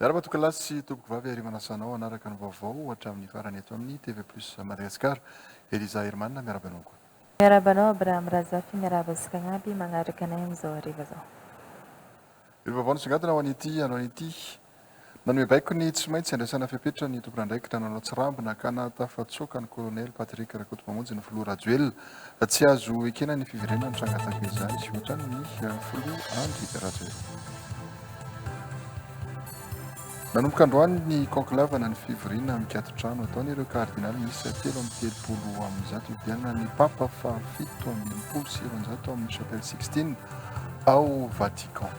Miara-matokalahy sy tompoko vavy Hery manasa anao hanaraka ny vaovao hatramin'ny farany eto amin'ny TV Plus Madagascar. Eliza Herman miarahaba anao koa. Miarahaba anao Abraham Razafy, miarahaba antsika agnaby magnaraka anay amizao hariva zao. Ireo vaovao nisongadina ho an'ity androany ity. Nanome baiko ny tsy maintsy handraisana fepetra ny tompon'andraikitra nanao tsirambina ka nahatafatsoaka ny Kolonely Patrick Rakotomamonjy ny Filoha Rajoelina. Tsy azo ekena ny fiverenana nitranga tahaka izany sy hoatran' ny Filoha Andry Rajoelina. Nanomboka androany ny conclave na ny fivoriana mikatotrano ataon' ireo Kardinaly miisa telo amby telopolo amby zato hividianana ny Papa fahafito amby enimpolo sy roanjato ao amin'ny Chapelle Sixtine ao Vatican.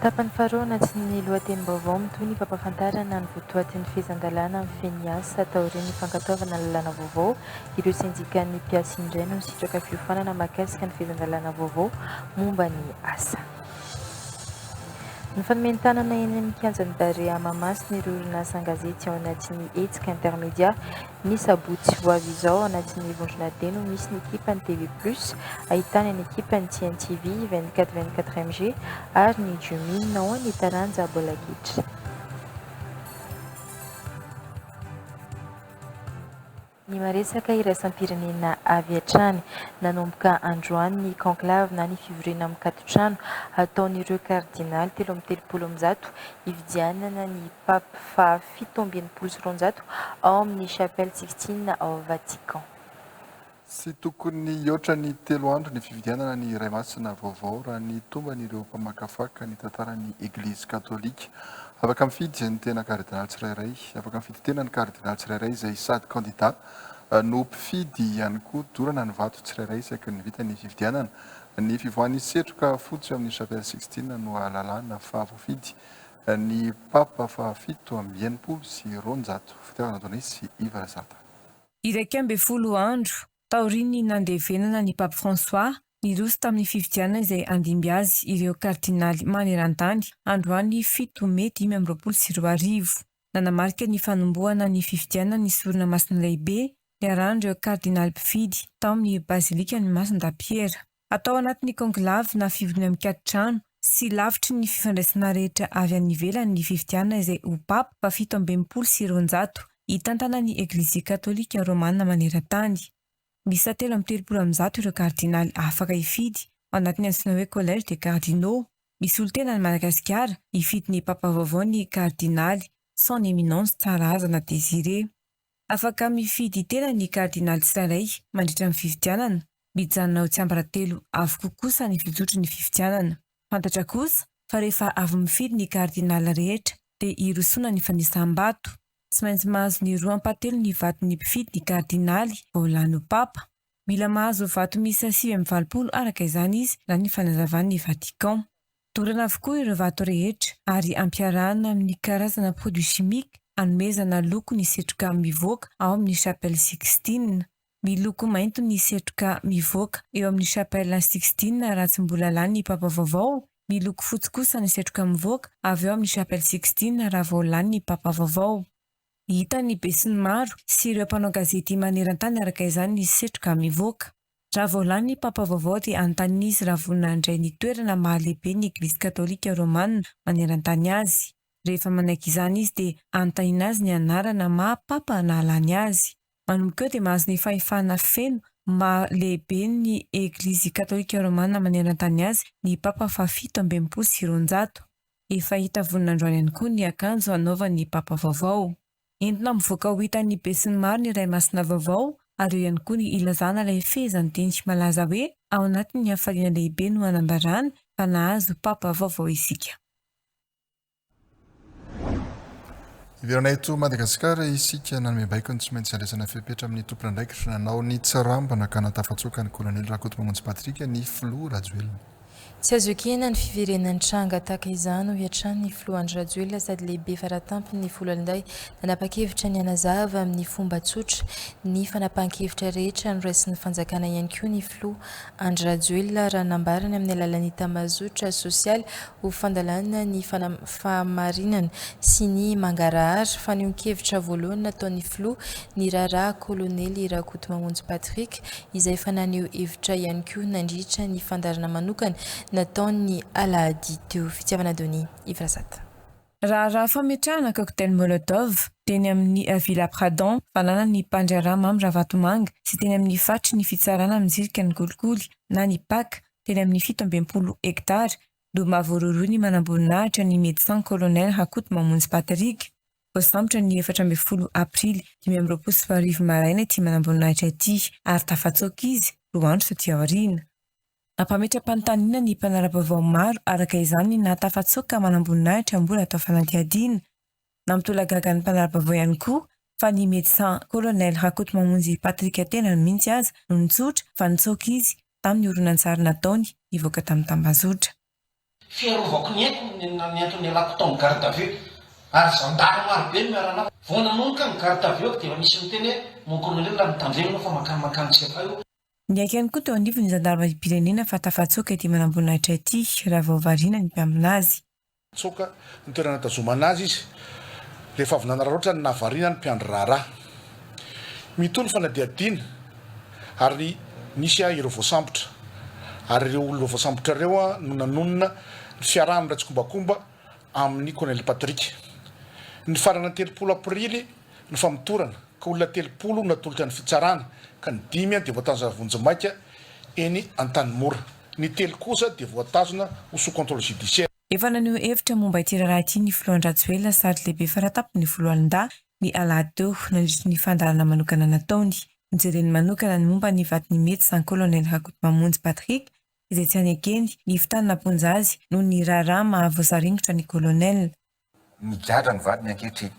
Tapany faharoa anatin' ny lohatenim-baovao mitohy ny fampahafantarana ny votoatin' ny fehezan-dalàna amin'ny fehiny ny asa taorian' ny fankatoavana lalàna vaovao. Ireo sendikan' ny mpiasa indray no nisitraka fiofanana mahakasika ny fehezan-dalàna vaovao momba ny asa. Ny fanomenon-tanana eny amin'ny kianjan'ny Barea Mahamasina ireo orinasa an-gazety ao anatin'ny hetsika Intermedia, Ny sabotsy ho avy izao ao anatin'ny vondrona D no misy ny ekipan'ny TV Plus ahitana ny ekipan'ny CNTV, 24 24 MG ary ny Jumin ao amin'ny taranja baolina kitra. Ny maresaka iraisam-pirenena avy hatrany. Nanomboka androany ny conclave na ny fivoriana mikatotrano hataon'ireo kardinaly telo amby telopolo amin'ny zato hividianana ny Pape fahafito amby enimpolo sy roanjato ao amin'ny Chapelle Sixtine ao Vatican. Tsy tokony hihoatra ny telo andro ny fividianana ny Iray Masina vaovao raha ny tomban'ireo mpamakafaka ny tantaran'ny Eglizy Katolika. Afaka mifidy ny tena Kardinaly tsirairay. Afaka mifidy tena ny Kardinaly tsirairay izay sady kandida no mpifidy ihany koa. Dorana ny vato tsirairay isaky ny vita ny fividianana. Ny fivoahan'ny setroka fotsy ao amin'ny Chapelle Sixtine no ahalalana fa voafidy Ny Papa fahafito amby enimpolo sy roanjato, Fitiavana Adonis sy Iva Razata. Iraika ambin'ny folo andro taorian'ny nandevenana an'i Pape François niroso tamin'ny fifidianana izay handimby azy ireo kardinaly maneran-tany androany fito mey dimy amby roapolo sy roa arivo, nanamarika ny fanombohana ny fifidianana ny sorona masina lehibe niarahan'ireo kardinaly mpifidy tao amin'ny bazilikan'i Masindahy Piera. Atao anaty ny conclave na fivoriana mikatry trano sy lavitry ny fifandraisana rehetra avy any ivelany ny fifidianana izay ho Papa fahafito amby enimpolo sy roanjato hitantana ny Eglizia Katolika Romana maneran-tany. Miisa telo amby telopolo amby zato ireo Kardinaly afaka hifidy ao anatin'ny antsoina hoe Collège des Cardinaux. Misy olon-tena any Madagasikara hifidy ny Papa vaovao ny Kardinaly Son Eminence Tsarahazana Désiré. Afaka mifidy tena ny Kardinaly tsirairay mandritra ny fifidianana, mijanona ho tsiambaratelo avokoa kosa ny fizotry ny fifidianana. Fantatra kosa fa rehefa avy mifidy ny Kardinaly rehetra dia hirosoana ny fanisam-bato. Tsy maintsy mahazo ny roa ampahatelon' ny vaton' ny mpifidy ny Kardinaly vao lany ho Papa. Mila mahazo vato miisa sivy amby valopolo araka izany izy, raha ny fanazavan' ny Vatican. Dorana avokoa ireo vato rehetra ary ampiarahana amin'ny karazana produits chimiques anomezana loko ny setroka mivoaka ao amin'ny Chapelle Sixtine. Miloko mainty ny setroka mivoaka eo amin'ny Chapelle Sixtine raha tsy mbola lany ny Papa vaovao, miloko fotsy kosa ny setroka mivoaka avy ao amin'ny Chapelle Sixtine raha vao lany ny Papa vaovao. Hitan'ny besinimaro sy ireo mpanao gazety maneran-tany araka izany ny setroka mivoaka. Raha vao lany ny Papa vaovao dia hanontaniana izy raha vonona handray ny toerana maha lehibe ny Eglizy Katolika Romana maneran-tany azy. Rehefa manaiky izany izy dia hanontaniana azy ny anarana maha Papa nahalany azy. Manomboka eo dia mahazo ny fahefana feno maha lehibe ny Eglizy Katolika Romana maneran-tany azy ny Papa fahafito amby enimpolo sy roanjato. Efa hita vonin'androany ihany koa ny akanjo hanaovan'ny Papa vaovao. Entina mivoaka ho hitan'ny besinimaro ny Iray Masina vaovao ary eo ihany koa ny ilazana ilay fehezanteny malaza hoe ao anatin'ny hafaliana lehibe no hanambarana fa nahazo Papa vaovao isika. Hiverina eto Madagasikara isika, nanome baiko ny tsy maintsy handraisana fepetra amin'ny tompon'andraikitra nanao ny tsirambina ka nahatafatsoaka ny Kolonely Rakotomamonjy Patrick ny Filoha Rajoelina. Tsy azo ekena ny fiverenan'ny tranga tahaka izany, hoy hatrany ny filoha Andry Rajoelina sady lehibe faratampon'ny foloalindahy nanapa-kevitra ny hanazava amin'ny fomba tsotra ny fanapahan-kevitra rehetra noraisin'ny fanjakana ihany koa ny filoha Andry Rajoelina raha nambarany amin'ny alalan'ny tamazotra sosialy ho fandalana ny fahamarinana sy ny mangarahara fanehoan-kevitra voalohany nataon'ny filoha ny raharaha kolonely Rakotomamonjy Patrick izay efa naneho hevitra ihany koa nandritra ny fandaharana manokana nataony ny alahady teo. Fitiavana Donny, Yves Razata. Raharaha fametrahana cocktail Molotov teny amin'ny Avila Pradon, fananan'ny mpandraharaha Mamy Ravatomanga sy teny amin'ny faritry ny fitsarana mizilika ny kolikoly na ny pac teny amin'ny fito amby enimpolo hektara no maha voarohirohy ny manamboninahitra ny Médecin Colonel Rakotomamonjy Patrick. Voasambotra ny efatra ambin'ny folo Aprily dimy amby roapolo sy roa arivo maraina ity manamboninahitra ity ary tafatsoaka izy roa andro taty aoriana. Nampametra-panontaniana ny mpanara-baovao maro araka izany ny nahatafatsoaka manamboninahitra mbola atao fanadihadiana. Nampitolagaga ny mpanara-baovao ihany koa fa ny Médecin Colonel Rakotomamonjy Patrick tenany mihitsy aza no nitsotra fa nitsoaka izy tamin'ny horonantsary nataony nivoaka tamin'ny tambazotra. Fiarovako ny aiko no niantony ialako tao amin'ny garde à vue ary zandary maro be no miara-naka. Vao nanomboka ny garde à vue ako dia efa nisy niteny hoe mon colonel raha mitandrema ianao fa mankany mankany tsy avay o. Niaiky ihany koa teo anivon'ny zandarimariam-pirenena fa tafatsoaka ity manamboninahitra ity raha vao variana ny mpiambina azy. Tsoaka ny toerana nitazomana azy izy rehefa avy nanararaotra ny nahavariana ny mpiandry raharaha. Mitohy ny fanadihadiana. Ary nisy ahy ireo voasambotra, ary ireo olona voasambotra ireo no nanonona ny fiaraha mirai-tsikombakomba amin'ny Kolonely Patrick. Ny farana telopolo Aprily no famotorana, ka olona telopolo no natolotra ny fitsarana, ka ny dimy dia voatazona vonjimaika eny Antanimora. Ny telo kosa dia voatazona ho sous contrôle judiciaire. Efa naneho hevitra momba ity raharaha ity ny filoha Andry Rajoelina sady lehibe faratapony ny foloalindahy ny alahady teo, nandritra ny fandaharana manokana nataony. Nojereny manokana ny momba ny vaton'ny medecin Colonel Rakotomamonjy Patrick, izay tsy any ekeny, Ivontany namponja azy noho ny raharaha maha voasaringotra ny Colonel. Migadra ny vadiny ankehitriny.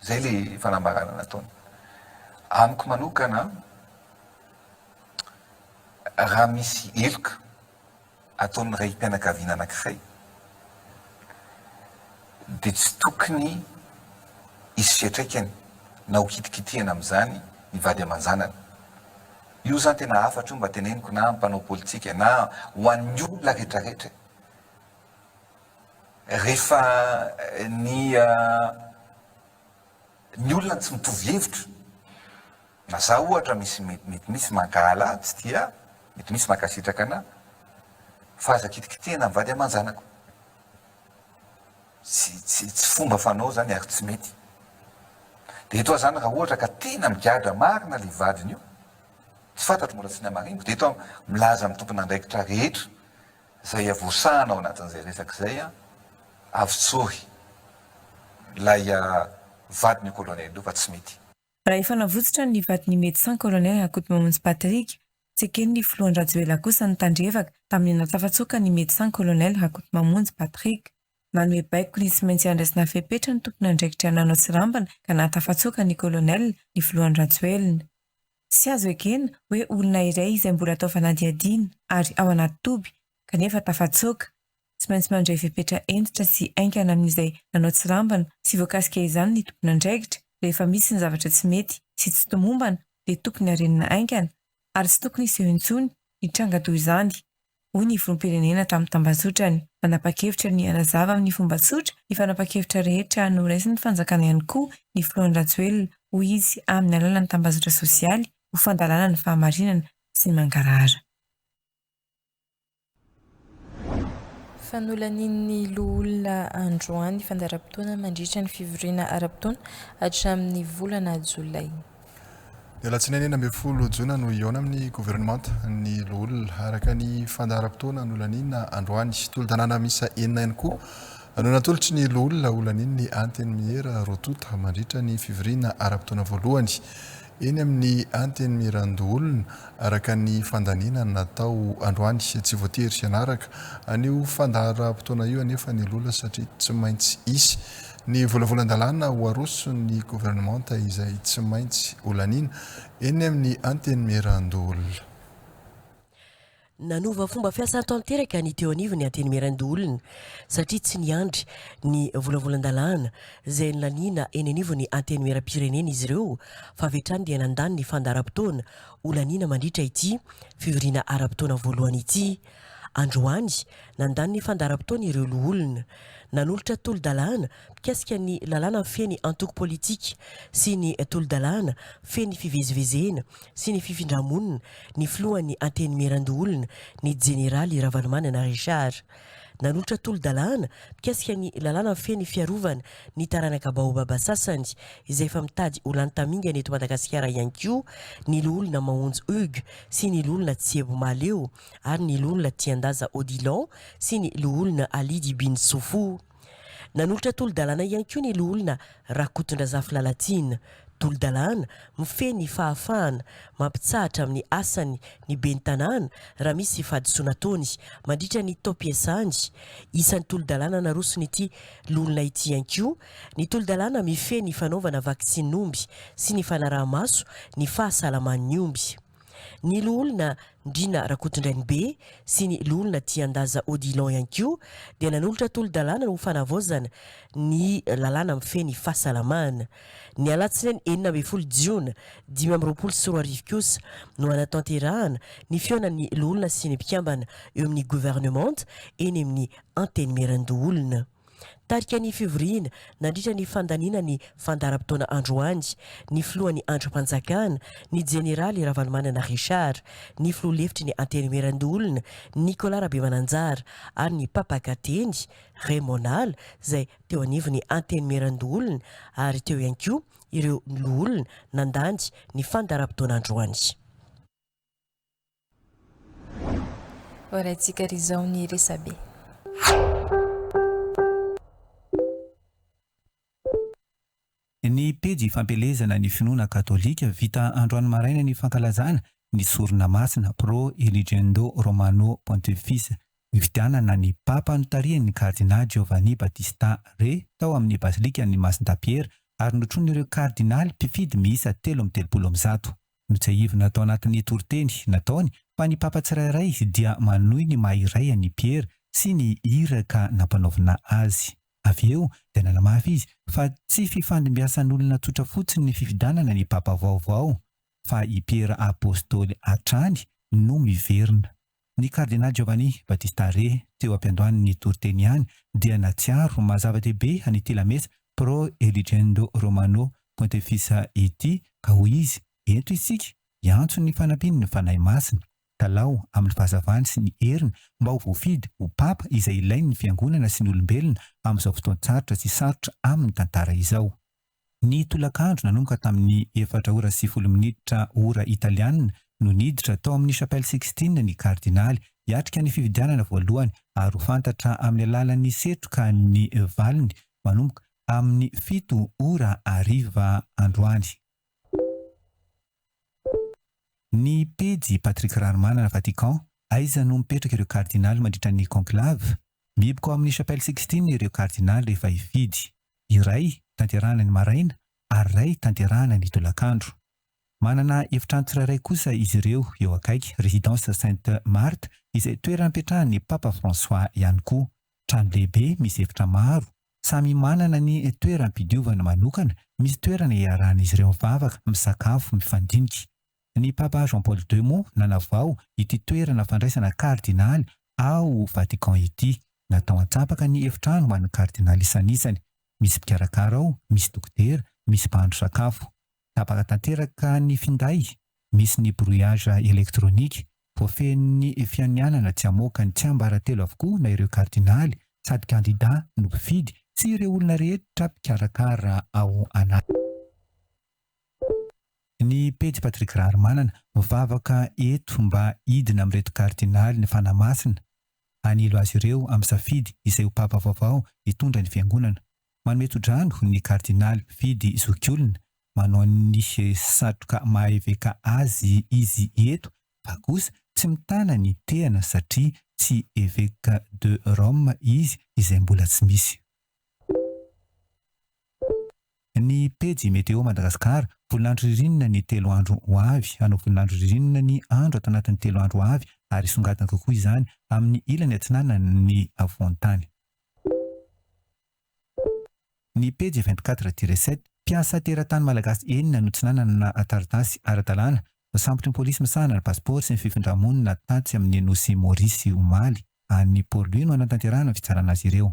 Izay ilay fanambarana nataony. Amiko manokana, raha misy heloka. ataon'ny raim-pianakaviana anankiray dia tsy tokony hisy fiantraikany na ho kitikitihana amin'izany ny vady aman-janany. Io izany tena hafatra io mba teneniko na amin'ny mpanao politika na ho an'ny olona rehetrarehetra e! Rehefa ny ny olona no tsy mitovy hevitra Na za ohatra misy mety misy mankahala tsy tia mety misy mankasitraka ana fa aza kitikitihina ny vady amanjanako tsy tsy tsy fomba fanao zany ary tsy mety de eto aho zany raha ohatra ka tena migadra marina le vadiny io tsy fantatro mbola tsy namariniko de eto aho milaza amin'ny tompon'andraikitra rehetra zay avosahana ao anatin'izay resaka izay a avotsory lay vadin'io colonel io fa tsy mety. Raha efa navotsotra ny vadin'ny Médecin Colonel Rakotomamonjy Patrick, tsy eken'ny Filohan-dRajoelina kosa ny tandrevaka tamin'ny natsafatsoaka ny Médecin Colonel Rakotomamonjy Patrick. Nanome baiko ny tsy maintsy handraisana fepetra ny tompon'andraikitra nanao tsirambina ka nahatafatsoaka ny Colonel ny Filohan-dRajoelina. Tsy azo ekena hoe olona iray izay mbola atao fanadihadiana ary ao anaty toby kanefa tafatsoaka, Tsy maintsy mandray fepetra hentitra sy haingana amin'izay nanao tsirambina sy voakasika izany ny tompon'andraikitra. Rehefa misy ny zavatra tsy mety sy tsy tomombana dia tokony harenina haingana ary tsy tokony hiseho intsony ny tranga toy izany, hoy ny Filoham-pirenena tamin'ny tambazotrany. Nanapa-kevitra ny hanazava amin'ny fomba tsotra ny fanapahan-kevitra rehetra noraisin'ny fanjakana ihany koa ny Filoha Andry Rajoelina, hoy izy amin'ny alalan'ny tambazotra sosialy ho fandalana ny fahamarinana sy ny mangarahara. Fa nolanian'ny Loholona androany fandaharam-potoana mandritra ny fivoriana ara-potoana hatramin'ny volana Jolay. Ny alatsinainy enina ambin'ny folo jona no hihaona amin'ny governemanta ny Loholona, araka ny fandaharam-potoana nolaniana androany. Tolo-dalàna miisa enina ihany koa no natolotry ny Loholona holanian'ny Antenimiera Rotota mandritra ny fivoriana ara-potoana voalohany Eny amin'ny Antenimierandoholona, araka ny fandaniana natao androany, tsy voatery hianaraka an'io fandaharam-potoana io anefa ny lola satria tsy maintsy hisy ny volavolan-dalàna ho aroson'ny governemanta izay tsy maintsy holaniana eny amin'ny Antenimierandoholona. Nanova fomba fiasa tanteraka ny teo anivon'ny Antenimierandoholona satria tsy niandry ny volavolan-dalàna izay nolaniana eny anivon'ny Antenimierampirenena izy ireo fa avy hatrany dia nandany ny fandaharam-potoana holaniana mandritra ity fivoriana ara-potoana voalohany ity. Androany, nandany ny fandaharam-potoany ireo loholona. Nanolotra tolo-dalàna mikasika ny lalàna feno antoko politika sy ny tolo-dalàna feno fivezivezena sy ny fifindra-monina ny filohan'ny Antenimierandoholona, ny Jeneraly Ravalomanana Richard. Nanolotra tolo-dalàna mikasika ny lalàna feno ny fiarovana ny taranaka baobaba sasany, izay efa mitady ho lany tamingana eto Madagasikara ihany koa, ny Loholona Mahonjy Hugues sy ny Loholona Tsiebo Mahaleo ary ny Loholona Tiandaza Odilon sy ny Loholona Alidy Bintsofo. Nanolotra tolo-dalàna ihany koa ny Loholona Rakotondrazafy Lalatiana. Tolo-dalàna mifehy ny fahafahana mampitsahatra amin'ny asany ny Ben'ny Tanàna raha misy fahadisoana ataony mandritra ny taom-piasany. Isan'ny tolo-dalàna naroson'ity Loholona ity ihany koa ny tolo-dalàna mifehy ny fanaovana vakisinin'omby sy ny fanaraha-maso ny fahasalaman'ny omby. Ny Loholona Ndriana Rakotondrainibe sy ny Loholona Tiandaza Odilon ihany koa dia nanolotra tolo-dalàna ho fanavaozana ny lalàna mifehy ny fahasalamana. Ny alatsinainy enina ambin'ny folo jiona dimy amby roapolo sy roa arivo kosa no hanatanterahana ny fihaonan'ny Loholona sy ny mpikambana eo amin'ny Governemanta eny amin'ny Antenimierandoholona. Tarika ny fivoriana nandritra ny fandaniana ny fandaharam-potoana androany ny filohan'ny andrimpanjakana, ny jeneraly Ravalomanana Richard, ny filoha lefitry ny Antenimierandoholona, Nicolas Rabemananjara ary ny mpampaka teny, Raymond Nala, izay teo anivon'ny Antenimierandoholona ary teo ihany koa ireo loholona nandany ny fandaharam-potoana androany. Horaintsika ry izao ny resabe. Ny pejy Fampielezana ny finoana katolika, vita androany maraina ny fankalazana ny sorona masina, Pro Eligendo Romano Pontifis, nifidianana ny Papa notarihiny ny Kardinà Giovanni Battista Re tao amin'ny Basilikan'i Masindahy Piera ary notronin'ireo Kardinaly mpifidy miisa telo amby telopolo amby zato. Notsiahivina tao anatin'ny toriteny nataony fa ny Papa tsirairay dia manohy ny maha iray an'i Piera sy ny iraka nampanaovina azy. Avy eo dia nanamafy izy fa tsy fifandimbiasan'olona tsotra fotsiny ny fifidianana ny Papa vaovao, fa i Piera Apostoly hatrany no miverina. Ny Kardinal Giovanni Battista Re, teo am-piandohany ny toriteny ihany, dia natsiaro ho maha-zava-dehibe an'ity lamesa Pro Eligendo Romano Pontefice ity, ka hoy izy, Ento isika hiantso ny fanampian'ny Fanahy Masina, Talao, amin'ny fahazavany sy ny heriny, mba ho voafidy ho Papa izay ilain'ny Fiangonana sy ny olombelona amin'izao fotoan-tsarotra sy sarotra amin'ny tantara izao. Ny tolakandro nanomboka tamin'ny efatra ora sy folo minitra ora italiana no niditra tao amin'ny Chapelle Sixtine ny Kardinaly hiatrika ny fifidianana voalohany ary ho fantatra amin'ny alalan'ny setroka ny valiny manomboka amin'ny fito ora hariva androany. Ny pejy Patrick Rarimanana Vatican, Aiza no mipetraka ireo Kardinaly mandritra ny Conclave? Mihiboka ao amin'ny Chapelle Sixtine ireo Kardinaly rehefa hifidy. iray tanterahana ny maraina ary iray tanterahana ny tolakandro. Manana efitrano tsirairay kosa izy ireo eo akaiky Résidence Sainte Marthe izay toeram-piatrahan'ny Papa François ihany koa. Trano lehibe misy efitra maro, samy manana ny toeram-pidiovana manokana, misy toerana iarahan'izy ireo mivavaka, misakafo, mifandinika. Ny Papa Jean Paul ii moa nanavao ity toerana fandraisana Kardinaly ao Vatican ity. Natao an-tsapaka ny efitrano ho an'ny Kardinaly isan'isany. Misy mpikarakara ao, misy dokotera, misy mpahandro sakafo. Tapaka tanteraka ny finday, misy ny brouillage électronique. Voafehin'ny fianianana tsy hamoaka ny tsiambaratelo avokoa na ireo Kardinaly sady kandida no mpifidy sy ireo olona rehetra mpikarakara ao anatiny. Ny pejy Patrick Raharimanana, mivavaka eto mba hidina amin'ireto kardinaly ny Fanahy Masina, hanilo azy ireo amin'ny safidy izay ho Papa vaovao hitondra ny Fiangonana. Manome tsodrano ny kardinaly mpifidy zokiolona, manao ny satroka maha-eveka azy izy eto fa kosa tsy mitana ny tehana satria tsy Eveka de Rome izy izay mbola tsy misy. Ny pejy Météo Madagascar, Voninandro ririnina ny telo andro ho avy, Hanao voninandro ririnina ny andro ato anatin'ny telo andro ho avy ary songadina kokoa izany amin'ny ilany atsinanan'ny afovoan-tany. Ny pejy vingt-quatre tiret sept, Mpiasa teratany malagasy enina no tsy nanana taratasy ara-dalàna, voasambotry ny polisy misahana ny pasipaoro sy ny fifindra-monina tatsy amin'ny nosy Maurice omaly. Any Port-Louis no hanatanterahana ny fitsarana azy ireo.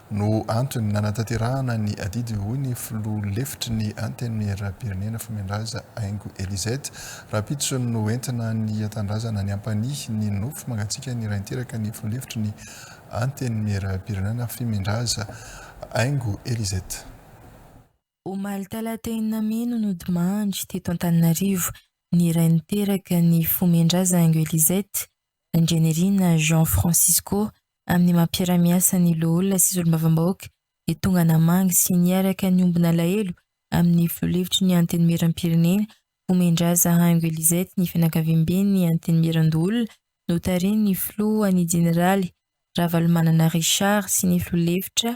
no antony nanatanterahana ny adidy, hoy ny filoha lefitry ny Antenimierampirenena, Fomendrazza Haingo Elisette. Rahampitso no entina ny Tanindrazana ny hampanihy ny nofo mangatsiaka ny rain-teraka ny filoha lefitry ny Antenimierampirenena, Fimendrazza Haingo Elisette. Omaly talata enina mey no nodimandry teto Antananarivo ny iray niteraka ny fomen-draza Angelisette Randrianirina Jean Francisco amin'ny maha mpiara-miasa ny loholona sy solombavambahoaka dia tonga namangy sy niaraka nihombo nalahelo amin'ny filoha lefitry ny Antenimieram-pirenena fomen-draza Angelisette ny fianakaviamben'ny Antenimierandoholona notarihin'ny filoha ny jeneraly Ravalomanana Richard sy ny filoha lefitra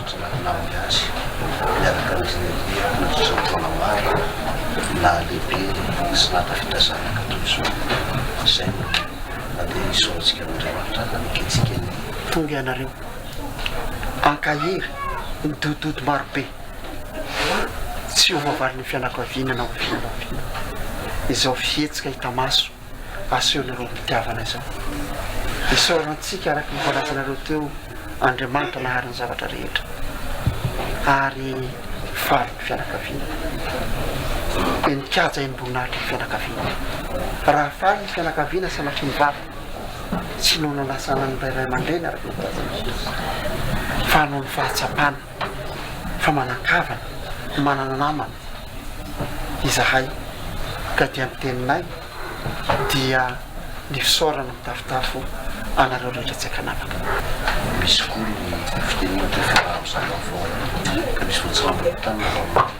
Raha naman'ny azy, miaraka amin'izy nandeha nandritra ny taona maro, nahalehibe sy nahatafita zanaka toy izao. Izay no nandeha nisaorantsika an'Andriamanitra haneketsika ny. Tonga ianareo. Ankahery, midododo marobe. Tsy ho voavalin'ny fianakaviana na oviana na oviana izao fihetsika hita maso. asehonareo am-pitiavana izao. Isaorana antsika araka ny voalazanareo teo, Andriamanitra nahary ny zavatra rehetra ary faly ny fianakaviana. Dia nikaja im-boninahitra ny fianakaviana. Raha faly ny fianakaviana sanatria mivavaka, tsy noho nanasana an'ilay ray aman-dreny araka ny voalazan'i Jesosy, fa noho ny fahatsapana. fa manan-kavana, manana namana izahay ka dia ny teninay dia ny fisaorana mitafotafo anareo rehetra tsy an-kanavaka. Misy koa ny fitenenana toy fa raha mizara ny voalohany ka misy voatsirambina ny tanana vao maty.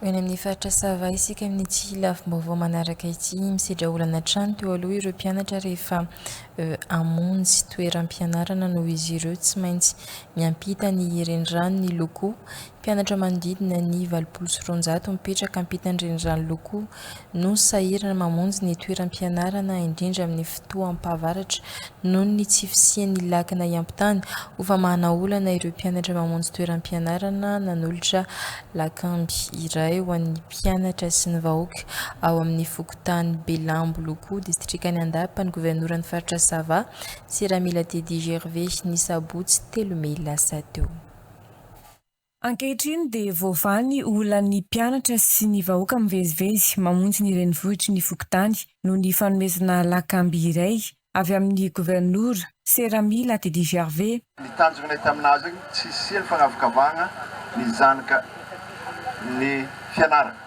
Ho eny amin'ny faritra Sava isika amin'ity lafim-baovao manaraka ity. Misedra olana hatrany teo aloha ireo mpianatra rehefa hamonjy toeram-pianarana noho izy ireo tsy maintsy miampita ny renirano ny locaux. Mpianatra manodidina ny valopolo sy roanjato mipetraka ampitan'ny renirano locaux no sahirana mamonjy ny toeram-pianarana indrindra amin'ny fotoam-pahavaratra noho ny tsy fisian'ny lakana hiampitany ho famahana olana ireo mpianatra mamonjy toeram-pianarana nanolotra lakamby iray ho an'ny mpianatra sy ny vahoaka ao amin'ny fokontany Belambo Loko, distrikan'i Andapa, ny governoran'ny faritra Sava, Seramelatedi Gervais, ny sabotsy telo mey lasa teo. Ankehitriny dia voavaha ny olan'ny mpianatra sy ny vahoaka mivezivezy mamonjy ny renivohitry ny fokontany noho ny fanomezana lakamby iray avy amin'ny governora, Serami Latidijarve. Ny tanjona hita amin'azy, tsy hisian'ny fanavakavahana ny zanaky ny fianarana.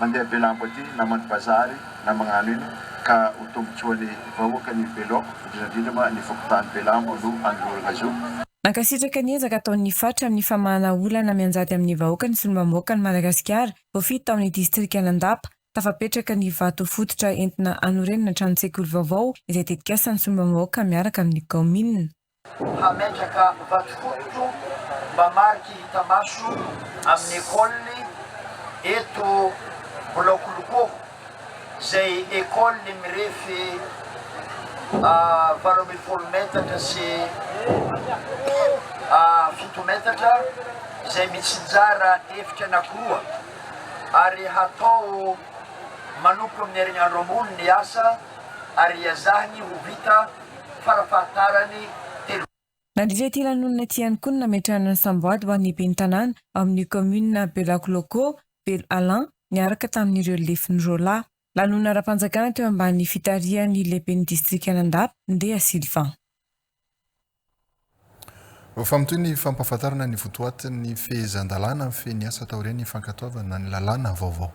Mandeha be lambo aty na manao bazary na magnano ino ka ho tombotsoan'ny vahoaka ny be laoko indrindra indrindra ma ny fokontany be lambo no anolorana zo. Mankasitraka ny ezaka ataon'ny Fatra amin'ny famahana olana mianjady amin'ny vahoaka ny solombambaoakan'i Madagasikara, vao fito tao amin'ny distrikan'Andapa, tafapetraka ny vato fototra entina hanorenana tranontseikolly vaovao izay tetikasan'ny solombambahoaka miaraka amin'ny kaominina. Hametraka vato fototra mba mariky hita maso amin'ny ecole eto Bolaokolokoho izay ecole mirefy valo ambin'ny folo metatra sy fito metatra izay mitsinjara efitra anakiroa ary hatao manomboka amin'ny herinandro ambony ny asa ary hiazahany ho vita farafahatarany telo. Nandritra ity lanonana ity ihany koa no nametrahana ny samboady ho an'ny ben'ny tanàna ao amin'ny kaominina Belakolôkô, Belo Alan, niaraka tamin'ireo lefiny roa lahy. Lanonana ara-panjakana teo ambany fitarihan'ny lehiben'ny distrikan'Andapa, Ndeha Sylvain. Vaovao mitohy ny fampahafantarana ny votoatin'ny fehezan-dalàna mifehy ny asa taorian'ny fankatoavana ny lalàna vaovao.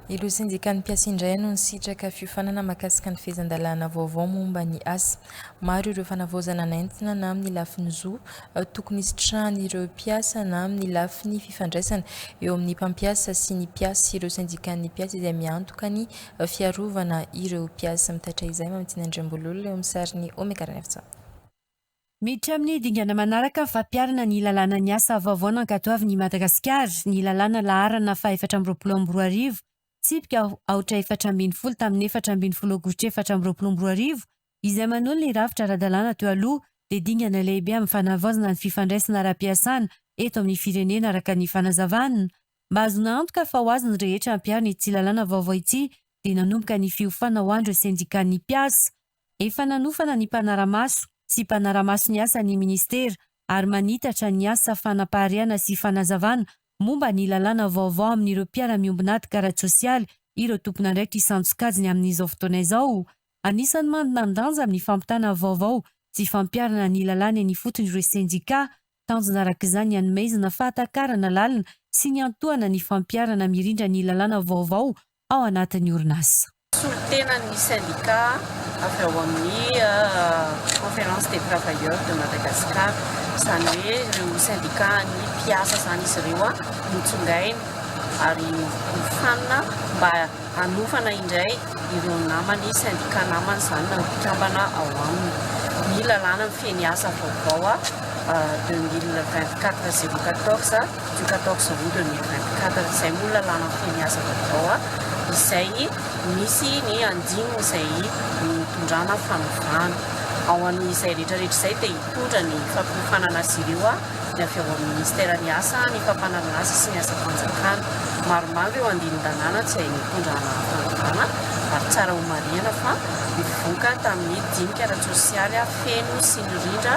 Ireo sendikan'ny mpiasa indray no nisitraka fiofanana mahakasika ny fehezan-dalàna vaovao momba ny asa. Maro ireo fanavaozana nentina na amin'ny lafiny zo tokony hisitrahan'ireo mpiasa na amin'ny lafiny fifandraisana eo amin'ny mpampiasa sy ny mpiasa. Ireo sendikan'ny mpiasa izay miantoka ny fiarovana ireo mpiasa mitaitra izay, Mamitiana Andriambololona, eo amin'ny sarin'i Omega Ranefjana. Miditra amin'ny dingana manaraka ny fampiharana ny lalàna ny asa vaovao nankatoavin'i Madagasikara, ny lalàna laharana fahaefatra amby roapolo amby roa arivo, tsipika aotra efatra ambin'ny folo tamin'ny efatra ambin'ny folo aogositra efatra amby roapolo amby roa arivo, izay manolo ny rafitra ara-dalàna teo aloha, dia dingana lehibe amin'ny fanavaozana ny fifandraisana ara-piasana eto amin'ny firenena araka ny fanazavana. Mba hahazoana antoka fa ho azy ny rehetra hampiharo ny tsilalàna vaovao ity dia nanomboka ny fiofana ho an'ireo sendikan'ny mpiasa, Efa nanofana ny mpanara-maso sy mpanara-maso ny asa ny Ministera ary manitatra ny asa fanapaharihana sy fanazavana momba ny lalàna vaovao amin'ireo mpiara-miombon'ady karatsosialy ireo tompon'andraikitra isan-tsokajiny amin'izao fotoana izao. Anisan'ny mandanjanja amin'ny fampitana vaovao sy fampiharana ny lalàna eny ifotony ireo sendikà Tanjona araka izany ny hanomezana fahatakarana lalina sy ny hiantohana ny fampiharana mirindra ny lalàna vaovao ao anatin'ny orinasa. solontenan'ny sendikà avy ao amin'ny Conférence des Travailleurs de Madagascar, izany hoe ireo sendikàn'ny mpiasa izany izy ireo notsongaina ary nofanina mba hanofana indray ireo namany, sendika namany izany na ny mpikambana ao aminy. Ny lalàna mifehy ny asa vaovao a 2024 014 du 14 aout 2024, izay moa ny lalàna mifehy ny asa vaovao a, izay misy ny andininy izay nitondrana fanovana. Ao amin'izay rehetrarehetra izay dia hitondra ny fampiofanana azy ireo a. dia avy ao amin'ny Minisiteran'ny Asa, ny Fampanahy ny Asa sy ny Asam-panjakana. Maromaro ireo andinin-dalàna tsy hay nitondra anaram-panjakana ary tsara homarihana fa nivoka tamin'ny dinika ara-tsosialy feno sy mirindra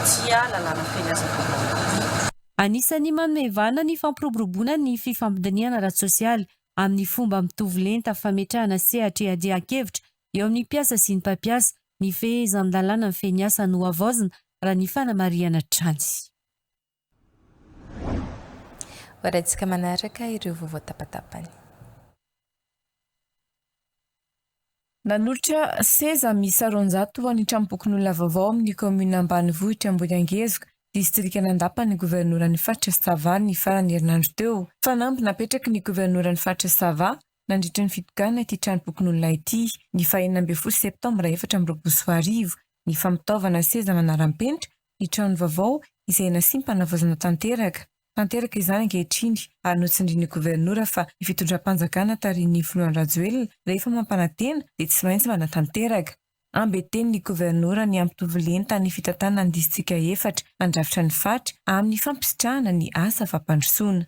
ity lalàna feno asa vaovao ity. Anisan'ny manome vahana ny fampiroboroboana ny fifampidinihana ara-tsosialy amin'ny fomba mitovy lenta fametrahana sehatra iadian-kevitra eo amin'ny mpiasa sy ny mpampiasa Ny fehezan-dalàna mifehy ny asa no havaozina raha ny fanamarihana hatrany. Hoarahintsika manaraka ireo vaovao tapatapany. Nanolotra seza miisa roanjato ho an'ny Tranompokonolona vaovao amin'ny kaominina ambanivohitra Ambohiangezoka, distrikan'Andapa ny governoran'ny faritra Sava ny faran'ny herinandro teo. Fanamby napetraky ny governoran'ny faritra Sava nandritra ny fitokanana ity tranompokonolona ity, ny faha enina ambin'ny folo septambra efatra amby roapolo sy roa arivo, ny famotaovana seza manara-penitra ny trano vaovao izay nasiam-panavaozana tanteraka. Tanteraka izany ankehitriny ary notsindrin'ny Governora fa ny fitondram-panjakana tarihin'ny Filoha Andry Rajoelina rehefa mampanantena dia tsy maintsy manatanteraka. Ambientenin'ny Governora ny hampitovy lenta ny fitantanana ny Distrika efatra handrafitra ny faritra amin'ny fampisitrahana ny asa fampandrosoana.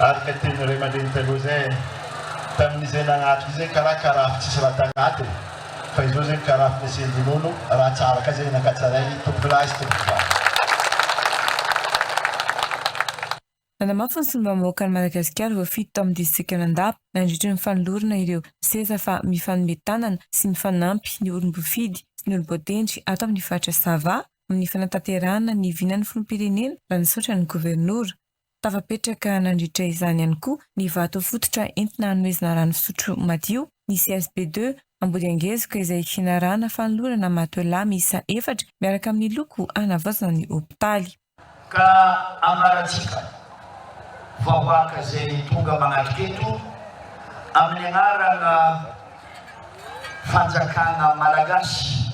Araka ny tenin'ny ray aman-dreny taloha izay e, tamin'izay nagnatona izay karaha karafo tsisy raha tagnaty e, fa izao izay ny karafo nasian-dronono, raha tsara ka izay nankatsarainy tompokolahy sy tompokovavy. Nanamafy ny solombavambahoakan'i Madagasikara voafidy tao amin'ny distrikan'Andapa nandritra ny fanolorana ireo seza fa mifanome tanana sy mifanampy ny olom-bofidy sy ny olom-boatendry ato amin'ny faritra Sava amin'ny fanatanterahana ny vinan'ny filoham-pirenena raha nisaotra ny governora. Tafapetraka nandritra izany ihany koa ny vato fototra entina hanomezana rano fisotro madio ny CSP deux Ambodiangezoka izay hianarana fanolorana matelas miisa efatra miaraka amin'ny loko hanavaozana ny hopitaly. Ka ambarantsika vahoaka izay tonga manatrika eto amin'ny anarana fanjakana malagasy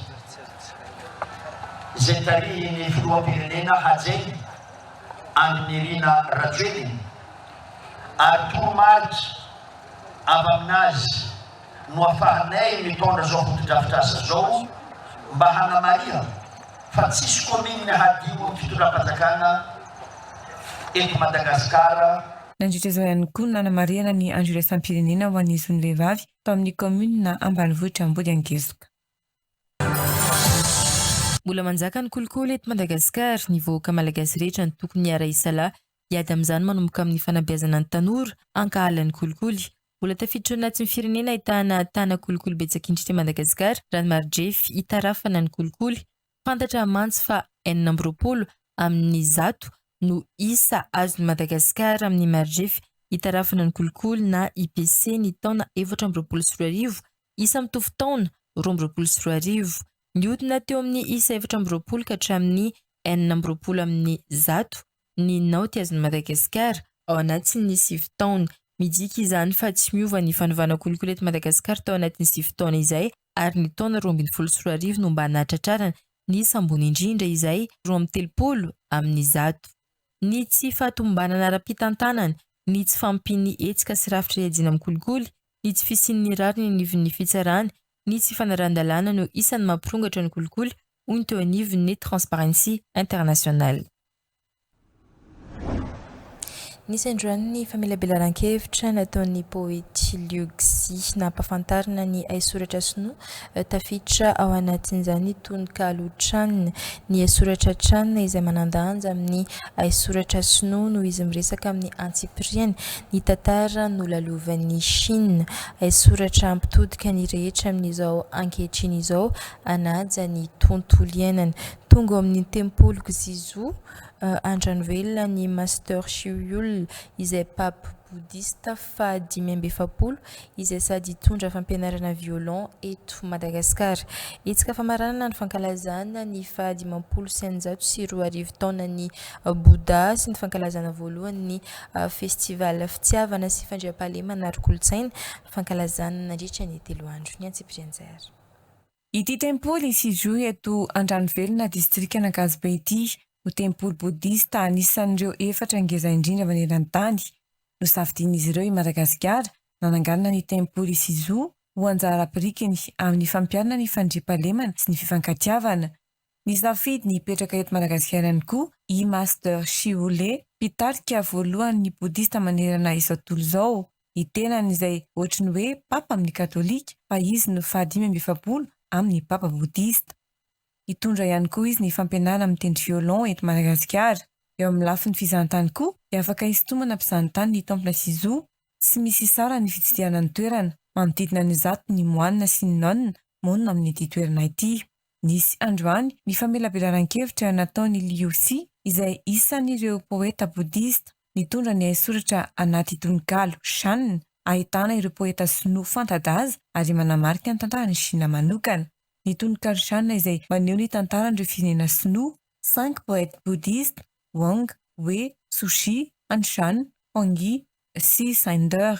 izay tarihin'ny filoham-pirenena Hajainy Andry Nirina Rajoelina ary toromarika avy amin'azy no afahanay mitondra zao fotodrafitrasa zao mba hanamarihana fa tsisy commune hadio ny fitondram-panjakana eto Madagasikara. Nandritra izao ihany koa no nanamarihana ny andro iraisam-pirenena ho an'ny zon'ny vehivavy tao amin'ny kaominina ambanivohitra Ambodiangesoka. Mbola manjaka ny kolikoly eto Madagasikara, ny vahoaka malagasy rehetra no tokony hiara-hisalahy Hiady amin'izany manomboka amin'ny fanabeazana ny tanora hankahala ny kolikoly. Mbola tafiditra ao anatin'ny firenena ahitana tana kolikoly betsaka indrindra i Madagasikara raha ny mari-drefy hitarafana ny kolikoly. Fantatra mantsy fa enina amby roapolo amin'ny zato no isa azon'i Madagasikara amin'ny mari-drefy hitarafana ny kolikoly na IPC ny taona efatra amby roapolo sy roa arivo, isa mitovy taona roa amby roapolo sy roa arivo. Nihodina teo amin'ny isa efatra amby roapolo ka hatramin'ny enina amby roapolo amin'ny zato ny naoty azon'i Madagasikara ao anatin'ny sivy taona. Midika izany fa tsy miova ny fanovana kolikoly eto Madagasikara tao anatin'ny sivy taona izay ary ny taona roa ambin'ny folo sy roa arivo no mba nahatratrarana ny sambony indrindra izay roa amby telopolo amin'ny zato. Ny tsy fahatomombanana ara-pitantanana, ny tsy fahampian'ny hetsika sy rafitra hiadiana amin'ny kolikoly, ny tsy fisian'ny rariny eny anivon'ny fitsarana, ny tsy fanarahan-dalàna no isan'ny mampirongatra ny kolikoly, hoy ny teo anivon'ny Transparency International. Nisy androany ny famelabelaran-kevitra nataon'ny poety Liu Xi nampafantarina ny haisoratra sinoa. Tafiditra ao anatin'izany ny tononkalo Chan. Ny haisoratra Chan izay manan-danja amin'ny haisoratra sinoa noho izy miresaka amin'ny antsipiriany ny tantara nolalovan'i Shina. Haisoratra hampitodika ny rehetra amin'izao ankehitriny izao hanaja ny tontolo iainana. Tonga ao amin'ny tempoliko Jizu, Andranovelona ny Master Hsü Yul, izay pape bodista faha dimy amby efapolo, izay sady hitondra fampianarana violon eto Madagasikara. Hetsika famaranana ny fankalazana ny faha dimampolo sy eninjato sy roa arivo taonan'i Bouddha sy ny fankalazana voalohan'ny Festival Fitiavana sy Fandriampahalemana Ara-kolontsaina, fankalazana nandritra ny telo andro. Ny antsipirian'izay ary. Ity tempoly Sijui eto Andranovelona distrikan'Ankazobe ity no tempoly bodista anisan'ireo efatra ngeza indrindra maneran-tany. Nosafidian'izy ireo i Madagasikara nananganana ny tempoly Sizu ho anjara birikiny amin'ny fampiharana ny fandriampahalemana sy ny fifankatiavana. Nisafidy ny hipetraka eto Madagasikara ihany koa i Master Shyu Lee, mpitarika voalohan'ny Bodista manerana izao tontolo izao. Ny tenany izay ohatry ny hoe Papa amin'ny Katolika, fa izy no fahadimy amby efapolo amin'ny Papa Bodista. Hitondra ihany koa izy ny fampianarana mitendry violon eto Madagasikara. Eo amin'ny lafiny fizahantany koa dia afaka hisintomana mpizahantany ny Temple Sisu. Tsy misy hisara ny fitsidihana ny toerana. Manodidina ny zato ny moanina sy ny nonina monina amin'ity toerana ity. Nisy androany ny famelabelaran-kevitra nataon'i Liu Xi, izay isan'ireo poeta bodista nitondra ny haisoratra anaty tononkalo Shan, ahitana ireo poeta sinoa fanta-daza ary manamarika ny tantaran'i Shina manokana. Ny tononkalo Shan izay maneho ny tantaran'ireo firenena sinoa. Cinq poètes bouddhistes, Wang, Wei, Sushi, Anshan, Huang Yi, Xi, Sender.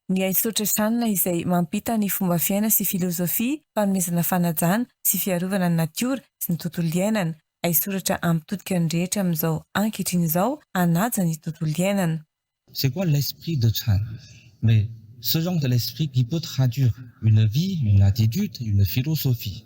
Ny haisotra Shan izay mampita ny fomba fiaina sy filozofia fanomezana fanajana sy fiarovana ny natiora sy ny tontolo iainana. Haisoratra hampitodika ny rehetra amin'izao ankehitriny izao hanaja ny tontolo iainana. C'est quoi l'esprit de Shan? Mais ce genre de l'esprit qui peut traduire une vie, une attitude, une philosophie.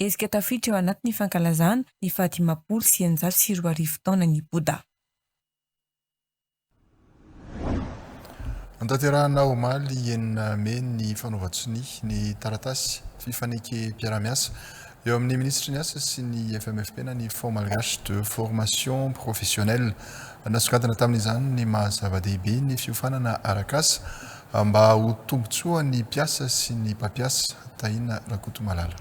Hetsika tafiditra eo anaty ny fankalazana ny fahadimampolo sy eninjato sy roa arivo taonan' i Boda. Notanterahina omaly enina mey ny fanaovan-tsonia ny taratasy fifanekem-piarahamiasa eo amin'ny minisitry ny Asa sy ny FMFP-na ny Fonds malgache de formation professionnelle. Nasongadina tamin'izany ny maha-zava-dehibe ny fiofanana arak'asa Mba ho tombontsoa ny mpiasa sy ny mpampiasa, Tahina Rakotomalala.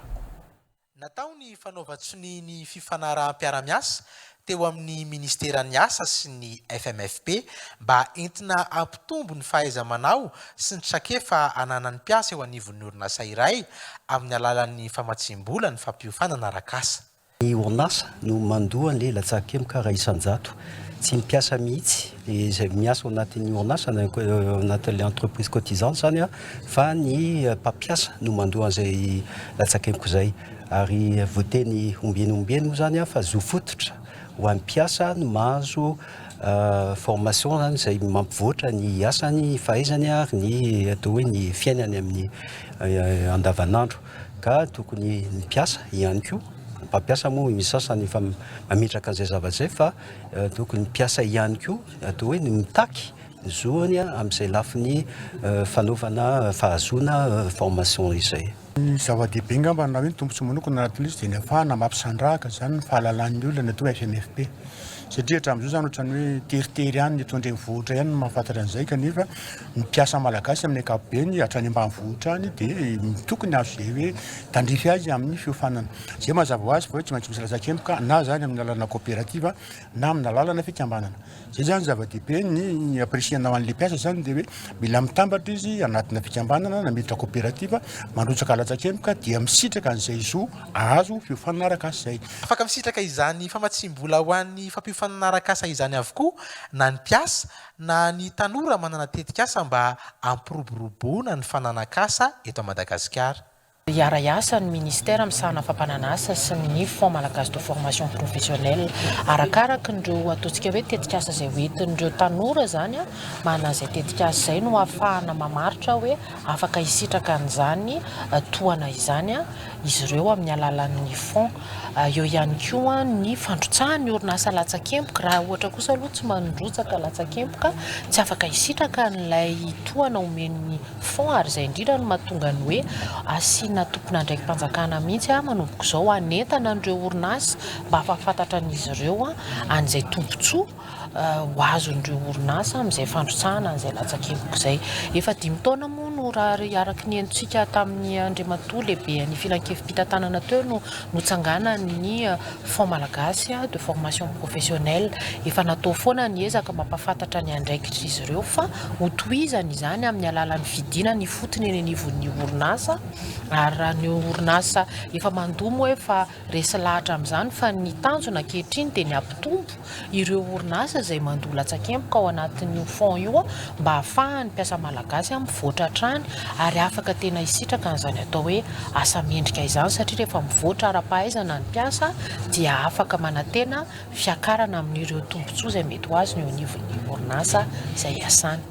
Natao ny fanaovan-tsonia ny fifanaraham-piarahamiasa teo amin'ny Ministeran'ny Asa sy ny FMFP mba entina hampitombo ny fahaiza-manao sy ny trakefa ananan'ny mpiasa eo anivon'ny orinasa iray amin'ny alalan'ny famatsiam-bola ny fampiofanana arak'asa. Ny orinasa no mandoa ny latsakemboka iray isan-jato. Tsy ny mpiasa mihitsy, izay miasa ao anatin'ny orinasa na ao anatin'ilay entreprise cotisante izany, fa ny mpampiasa no mandoa an'izay latsakemboka izay. Ary voateny ombieny ombieny moa izany fa zo fototra ho an'ny mpiasa ny mahazo formation, izany izay mampivoatra ny asany, ny fahaizany ary ny atao hoe ny fiainany amin'ny andavanandro. ka tokony ny mpiasa ihany koa, ny mpampiasa moa ny sasany efa mametraka an'izay zavatra izay fa tokony ny mpiasa ihany koa atao hoe ny mitaky ny zoany amin'izay lafiny fanaovana fahazoana formation izay. Ny zava-dehibe angamba na hoe ny tombontsoa manokana anaty Plus dia ny hafahana mampisandrahaka izany ny fahalalan'ny olona ny atao hoe FMFP satria hatramin'izao izany ohatran'ny hoe teritery ihany ny eto an-drenivohitra ihany no mahafantatra an'izay kanefa Ny mpiasa malagasy amin'ny ankapobeny hatrany ambanivohitra any dia tokony azo izay hoe tandrify azy amin'ny fiofanana. Izay mazava ho azy fa hoe tsy maintsy misy latsakemboka na izany amin'ny alalana coopérative na amin'ny alalana fikambanana. Izay izany zava-dehibe ny apprecier-nao an'ilay mpiasa izany dia hoe mila mitambatra izy anatina fikambanana na miditra coopérative mandrotsaka latsakemboka dia misitraka an'izay zo azo fiofanana arak'asa izay. Afaka misitraka izany famatsiam-bola ho an'ny fampiofanana arak'asa izany avokoa na ny mpiasa Na ny tanora manana tetikasa mba hampiroboroboana ny fananan-kasa eto Madagasikara. Hiara-hiasa ny Ministera misahana fampanana asa sy ny ny Fonds Malagasy de Formation Professionnelle arakaraky ireo ataontsika hoe tetikasa izay ho entin'ireo tanora izany manana izay tetikasa izay no hahafahana mamaritra hoe afaka hisitraka an'izany tohana izany izy ireo amin'ny alalan'ny Fonds Eo ihany koa ny fandrotsahan'ny orinasa latsakemboka. Raha ohatra kosa aloha tsy mandrotsaka latsakemboka, tsy afaka hisitraka an'ilay tohana omen'ny fonds ary izay indrindra no mahatonga ny hoe asiana tompon'andraiki-panjakana mihitsy manomboka izao hanentana an'ireo orinasa mba hahafantatan'izy ireo an'izay tombontsoa ho azon'ireo orinasa amin'izay fandrotsahana an'izay latsakemboky izay. Efa dimy taona moa no raha araka ny henontsika tamin'ny Andriamatoa lehiben'ny filankevi-pitantanana teo no notsanganan'ny Fonds malagasy de formation professionnelle. Efa natao foana ny ezaka mampahafantatra ny andraikitr'izy ireo fa hotohizany izany amin'ny alalan'ny fidinana ifotony eny anivon'ny orinasa ary raha ny orinasa efa mandoa moa efa Resy lahatra amin'izany fa ny tanjona ankehitriny dia ny hampitombo ireo orinasa izay mandoa latsakemboka ao anatin'io fonds io mba hahafahan'ny mpiasa malagasy mivoatra hatrany ary afaka tena hisitraka an'izany atao hoe asa mendrika izany satria rehefa mivoatra ara-pahaizana ny mpiasa dia afaka manantena fiakarana amin'ireo tombontsoa izay mety ho azo ny eo anivon'ny orinasa izay iasany.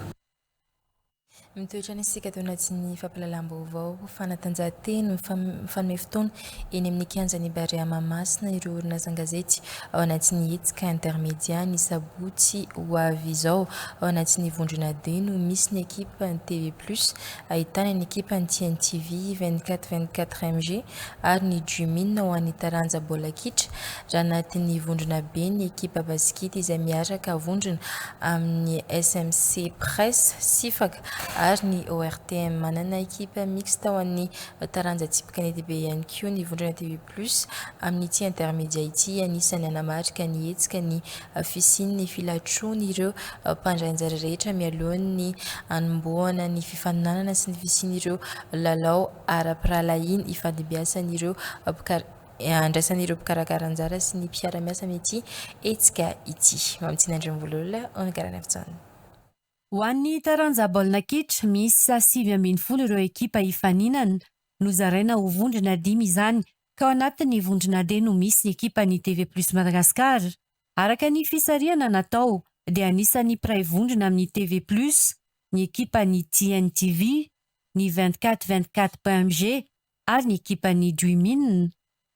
Mitoetra ny sokajina sy ny fampahalalam-baovao ho fanatanjahantena mifanome fotoana eny amin'ny kianjan'ny Barea Mahamasina ireo orinasa an-gazety ao anatin'ny hetsika Intermedia ny sabotsy ho avy izao. Ao anatin'ny vondrona D no misy ny ekipan'ny TV Plus ahitana ny ekipan'ny TNTV, 24 24 MG, ary ny Jumin ho an'ny taranja baolina kitra raha anatin'ny vondrona be ny ekipa basikety izay miaraka vondrona amin'ny SMC Press sifaka ary ny ORTM. Manana ekipa mixte ho an'ny taranja tsipy kanety be ihany koa ny vondrona TV Plus amin'ity intermedia ity, anisan'ny hanamarika ny hetsika ny fisian'ny filatroan'ireo mpandray anjara rehetra mialohan'ny hanombohana ny fifaninanana sy ny fisian'ireo lalao ara-pirahalahiana ifandimbiasan'ireo mpikar andraisan'ireo mpikarakara anjara sy ny mpiara-miasa amin'ity hetsika ity. Mamitsina Andriambololona, Ony Garanefjhn. Ho an'ny taranja baolina kitra, miisa sivy ambin'ny folo ireo ekipa hifaninana. Nozaraina ho vondrona dimy izany, ka ao anatin'ny vondrona D no misy ny ekipan'ny TV Plus Madagascar. Araka ny fisarihana natao dia anisan'ny mpiray vondrona amin'ny TV Plus ny ekipan'ny TN TV, ny vingt quatre vingt quatre point mg ary ny ekipan'ny Dream-in.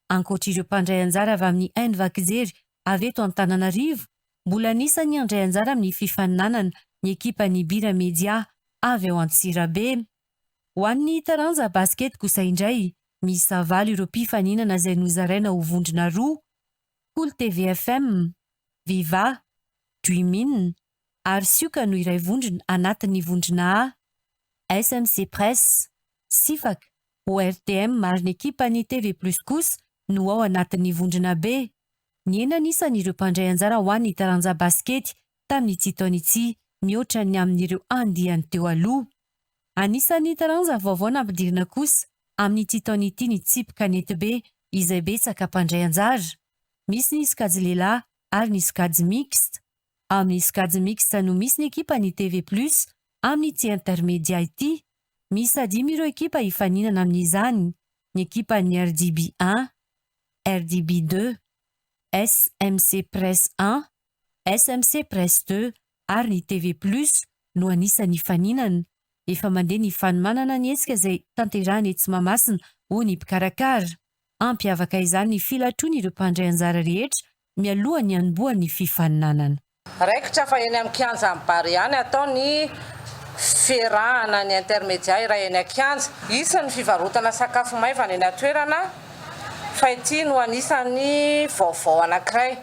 Ankoatr'ireo mpandray anjara avy amin'ny Enva Kijery avy eto Antananarivo, mbola anisan'ny handray anjara amin'ny fifaninanana ny ekipan'ny Bira Media avy ao Antsirabe. Ho an'ny taranja Basket kosa indray, miisa valo ireo mpifaninana izay nozaraina ho vondrona roa. Kolo TV FM, Viva, Dreamin, ary Sioka no iray vondrona anatin'ny vondrona A, SMC Press, Sifak, ORTM ary ny ekipan'ny TV Plus kosa no ao anatin'ny vondrona B. Nihena ny isan'ireo mpandray anjara ho an'ny taranja basikety tamin'ity taona ity mihoatra ny amin'ireo andiany teo aloha. Anisan'ny taranja vaovao nampidirina kosa amin'ity taona ity ny tsipika Netibe izay betsaka mpandray anjara. Misy ny sokajy lehilahy ary ny sokajy mixte. Amin'ny sokajy mixte no misy ny ekipan'ny TV Plus amin'ity intermedia ity. Miisa dimy ireo ekipa hifaninana amin'izany, ny ekipan'ny RDB un, RDB deux, SMC Press un, SMC Press deux ary ny TV plus no anisan'ny hifaninana. Efa mandeha ny fanomanana ny hetsika izay tanterahina etsy Mahamasina, hoy ny mpikarakara. Hampiavaka izany ny filatroan'ireo mpandray anjara rehetra mialohan'ny hanombohan'ny fifaninanana. Raikitra fa eny amin'ny kianjan'ny Bary ihany hatao ny fiarahana ny intermedia iray eny an-kianja. Hisy ny fivarotana sakafo maivana eny an-toerana fa ity no anisan'ny vaovao anankiray.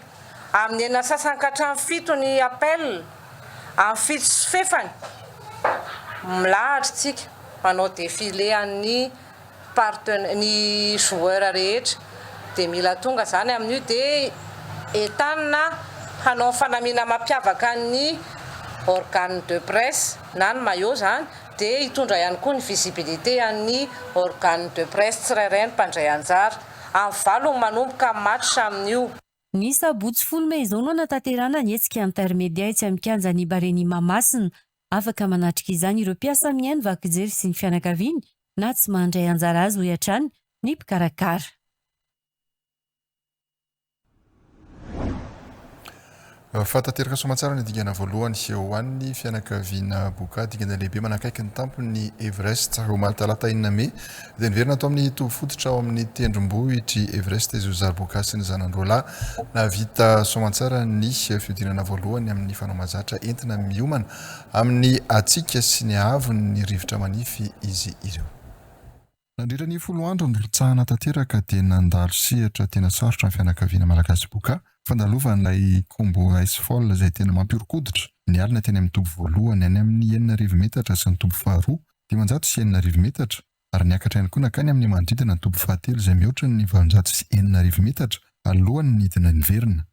Amin'ny enina sy sasany ka hatramin'ny fito ny appel, amin'ny fito sy fefany, milahatra isika manao défilé an'ny partena, ny joueur rehetra dia mila tonga izany amin'io dia entanina hanao ny fanamiana mampiavaka ny organe de presse na ny maillot izany dia hitondra ihany koa ny visibilité an'ny organe de presse tsirairay ny mpandray anjara. amin'ny valo no manomboka ny match amin'io. Ny sabotsy folo mey izao no hanatanterahana ny hetsika intermedia etsy amin'ny kianjan'i Bareni Mahamasina. Afaka manatrika izany ireo mpiasa amin'ny haino vaky jery sy ny fianakaviany na tsy mandray anjara azy, hoy hatrany ny mpikarakara. Fa tanteraka soamantsara ny dingana voalohany sy eo an'ny fianakaviana Boka, dingana lehibe manakaiky ny tampon'ny Everest. Omaly talata enina mey dia niverina tao amin'ny toby fototra ao amin'ny tendrombohitr'i Everest izy Oza Boka sy ny zanany roalahy. Nahavita soamantsara ny fihodinana voalohany amin'ny fanao mazatra entina miomana amin'ny hatsiaka sy ny haavon'ny rivotra manify izy ireo. Nandritra ny folo andro nirotsahana tanteraka dia nandalo sehatra tena sarotra ny fianakaviana malagasy Boka, fandalovan'ilay Combo Ice Fall izay tena mampihoron-koditra, ny alina teny amin'ny toby voalohany any amin'ny enina arivo metatra sy ny toby faharoa, dimanjato sy enina arivo metatra, ary niakatra ihany koa nankany amin'ny manodidina ny toby fahatelo izay mihoatra ny valonjato sy enina arivo metatra alohan'ny nidina niverina.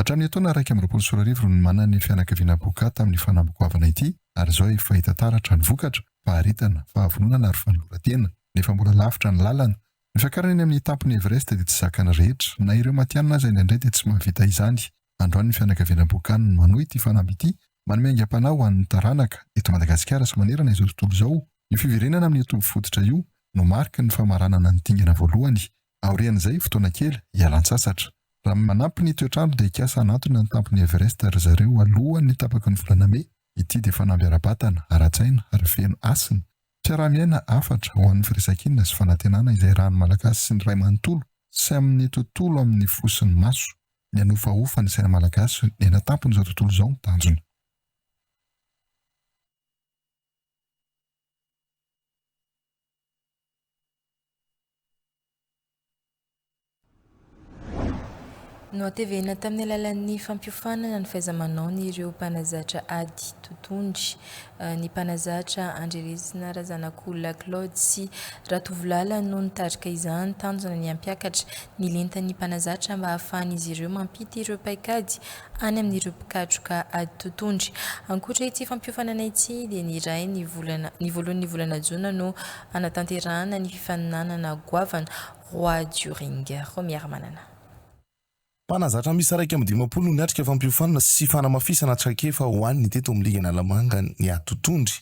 Hatramin'ny etoana iraika amby roapolo sy roa arivo no nimanana ny fianakaviana Boka tamin'ny fanamby goavana ity ary izao efa hita taratra ny vokatra, faharetana, fahavononana ary fanoloran-tena, nefa mbola lavitra ny lalana Ny fiakarana eny amin'ny tampon'i Everest dia tsy zakan'ny rehetra. Na ireo matihanina aza indraindray dia tsy mahavita izany. Androany ny fianakaviana Bokan no manohy ity fanamby ity, manome aingam-panahy ho an'ny taranaka, eto Madagasikara sy manerana izao tontolo izao. Io fiverenana amin'io toby fototra io no mariky ny famaranana ny dingana voalohany. Aorian'izay, fotoana kely, hialan-tsasatra. Raha manampy ny toetr'andro dia hikasa hanantona ny tampon'i Everest ry zareo alohan'ny tapaky ny volana Mey. Ity dia fanamby ara-batana, ara-tsaina ary feno hasina. Fiaraha-miaina hafatra ho an'ny firaisan-kina sy fanantenana izay ràn'ny Malagasy sy ny Ray manontolo sy amin'ny tontolo amin'ny fo sy ny maso. Ny hanofahofa ny saina malagasy ny anatampon'izao tontolo izao no tanjona. Nohatevehina tamin'ny alalan'ny fampiofanana ny fahaiza-manaony ireo mpanazatra ady totondry, ny mpanazatra Andry Resina Razanakolona Claude sy Ratovolala no nitarika izany, tanjona ny hampiakatra ny lentan'ny mpanazatra mba hahafahan'izy ireo mampita ireo paikady any amin'ireo mpikatroka ady totohondry. Ankoatra ity fampiofanana ity dia ny iray ny volana ny voalohan'ny volana jona no hanatanterahana ny fifaninanana goavana Roi du Ring. Romy Herimanana. Mpanazatra miisa iraika amby dimampolo no niatrika fampiofanana sy fanamafisana traikefa ho an'ny teto amin'ny ligy Analamanga ny ady totohondry.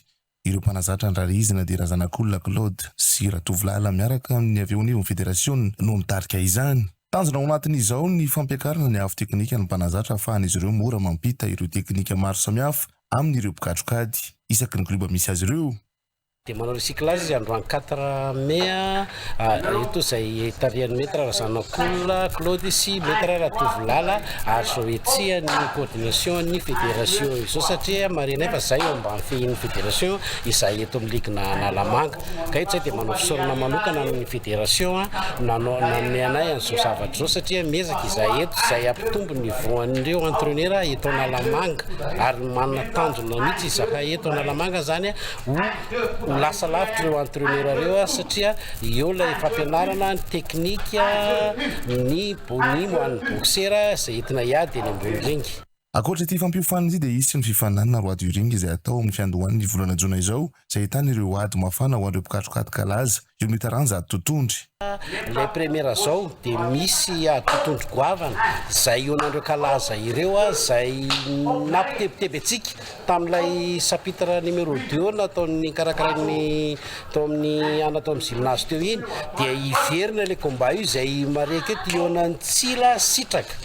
Ireo mpanazatra andrarehizina dia Razanakolona Claude sy Ratovolahy Alain miaraka amin'ny avy eo anivon'ny federasiona no mitarika izany. Tanjona ao anatin'izao ny fampiakarana ny avo teknika ny mpanazatra hahafahan'izy ireo mora mampita ireo teknika maro samihafa amin'ireo mpikatrokady isaky ny klioba misy azy ireo. Dia manao recyclage izy androany quatre mai. Eto izay tarihan'i Maître Razanakola Claude sy Maître Ratovolala ary izao hetsihan'ny coordination-n'ny fédération izao satria marenay fa izahay eo ambany fehin'ny fédération, izahay eto amin'ny ligue-na Analamanga. Ka eto izahay dia manao fisaorana manokana amin'ny fédération nanao nanome anay an'izao zavatra izao satria miezaka izahay eto izay hampitombo ny voan'ireo entraineur eto Analamanga ary manana tanjona mihitsy izahay eto Analamanga izany. ho lasa lavitra ireo entraineur ireo satria eo ilay fampianarana ny teknika ny bony ho an'ny boksera izay entina hiady eny ambony ringy. Ankoatra ity fampiofanana ity dia hisy ny fifaninanana roi du ring izay hatao amin'ny fiandohan'ny volana jona izao izay ahitana ireo ady mafana ho an'ireo mpikatrokaty kalaza Io ny taranja ady totondry. Ilay premiera zao dia misy ady totondry goavana zay ionan'ireo kalaza ireo zay nampitebiteby antsika tamin'ilay chapitre numéro deux nataon'ny nikarakarain'ny tao amin'ny ana tao amin'ny gymnase teo iny dia hiverina ilay combat io zay marihiko eto ionan'i Tsila sitraka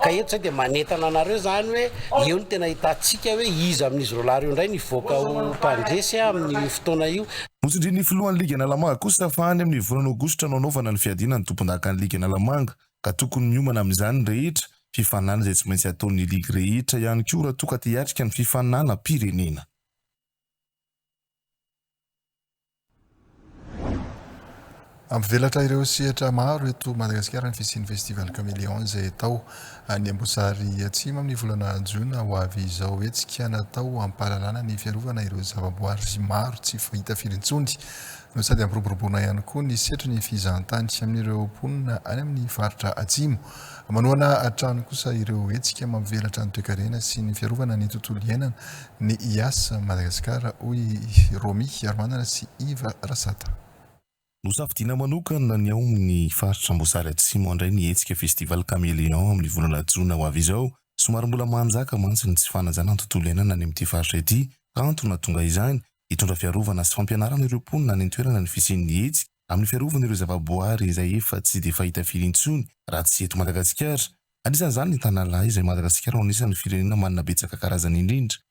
ka eto zay dia manentana anareo zany hoe eo no tena ahitantsika hoe iza amin'izy roalahy reo indray ny hivoaka ho mpandresy amin'ny fotoana io Notsindrin'ny filohan'ny Ligy Analamanga kosa fa any amin'ny volana aogositra no hanaovana ny fiadiana ny tompondakan'ny Ligy Analamanga ka tokony miomana amin'izany ny rehetra, fifaninana izay tsy maintsy ataon'ny ligy rehetra ihany koa raha toa ka te hiatrika ny fifaninanam-pirenena. Hampivelatra ireo sehatra maro eto Madagasikara ny fisian'ny Festival Caméléon izay atao any Amboasary Atsimo amin'ny volana Jona ho avy izao. Hetsika natao hampahalalana ny fiarovana ireo zavaboary maro tsy fahita firy intsony no sady hampiroboroboana ihany koa ny setrin'ny fizahantany amin'ireo mponina any amin'ny faritra Atsimo. Manohana hatrany kosa ireo hetsika mampivelatra ny toekarena sy ny fiarovana ny tontolo iainana ny Ias Madagasikara, hoy Romy Hiaromanana sy Yves Rasata. Nosafidiana manokana ny ao amin'ny faritra Amboasary Atsimo handray ny hetsika Festival Caméléon amin'ny volana jona ho avy izao. Somary mbola manjaka mantsy ny tsy fanajana ny tontolo iainana any amin'ity faritra ity. Antony nahatonga izany, hitondra fiarovana sy fampianarana ireo mponina any an-toerana ny fisian'ny hetsika amin'ny fiarovana ireo zavaboary izay efa tsy dia fahita firy intsony raha tsy eto Madagasikara. Anisan'izany ny Tanalahy izay Madagasikara no anisan'ny firenena manana betsaka karazany indrindra.